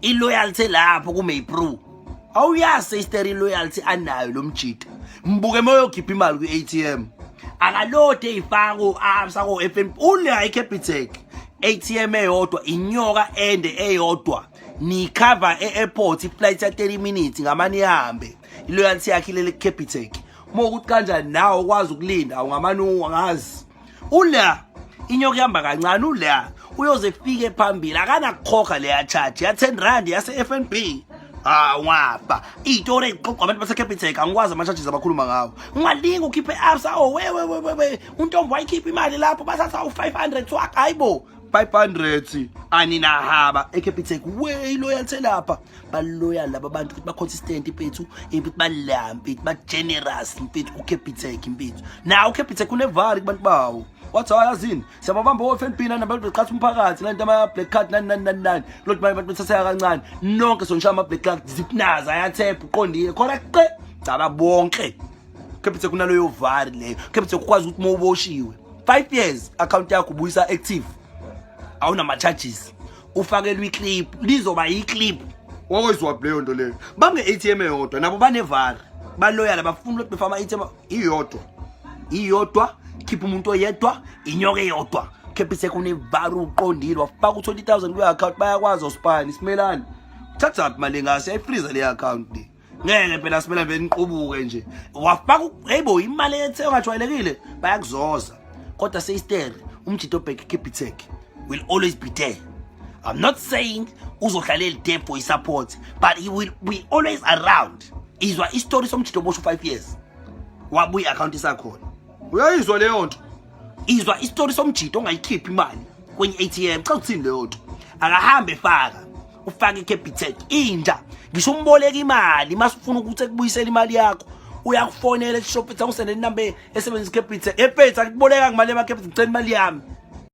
iloyalty lapho kumaypro awuyazi seyisteri iloyalty anayo lo mjita mbuke moyokhipha imali kwi-atm akalode eyifaka ko-absa ko-f n b unayo icapitec atm eyodwa inyoka ende eyodwa niyikhava e-airport iflight ya-30 minutes ngamane ihambe iloyalty yakhe ilele kucapitec uma ukuthi kanjani nawe ukwazi ukulinda ungamane ungazi ula inyoka ihamba kancane ula uyoze kufike phambili akanakukhokha leya charge ya 10 rand yase FNB ah wafa itori eqoqwa abantu base Capitec angikwazi ama charges abakhuluma ngawo ungalinga ukhiphe absa oh we we we we untombo wayikhipha imali lapho basatha u 500 swak hayibo 500 aninahaba e Capitec we loyalthe lapha baloyal laba bantu ukuthi ba-consistent impethu impethu balaya mpethu ba-generous mpethu ucapitek impethu naw ucapitek unevari kubantu bawo wathi hayi azini siyababamba o-fnb nani abantu beqhatha umphakathi nani ama-black card nani nani nani nani lothi manje abantu bethatheka kancane nonke sonishaya ama-black card zipnaza ayathepha uqondile khona qe caba bonke ucapitek unaloyo vari leyo ucapitek ukwazi ukuthi uma uboshiwe five years account yakho ubuyisa active awunama-charges ufakelwe iclip lizoba yiclip wawezwa kuleyo nto leyo bamne-atm eyodwa nabo banevara baloyala bafuna ukuthi befa ama-atm iyodwa iyodwa khipha umuntu oyedwa inyoka eyodwa khepha isekunevara uqondile wafaka u-20 000 kwi-account bayakwazi osipani simelani thathaphi mali engase yayifriza le-account le ngeke phela simele beniqubuke nje wafaka hayibo imali ethe ongajwayelekile bayakuzoza kodwa seyistere umjito obheke capitec will always be there i'm not saying uzohlala elidem for isupport but he will be always around izwa isitori somjito obosha u-five years wabuya i-akhawunti isakhona uyayizwa leyo nto izwa isitori somjito ongayikhiphi imali kwenye ATM cha uthini leyo nto akahambe faka ufake iCapitec inja ngisho umboleka imali masifuna ukuthi ekubuyisela imali yakho uyakufonela eShopitha usendele inamba esebenzisa iCapitec ePetha kuboleka ngemali yamaCapitec ngicela imali yami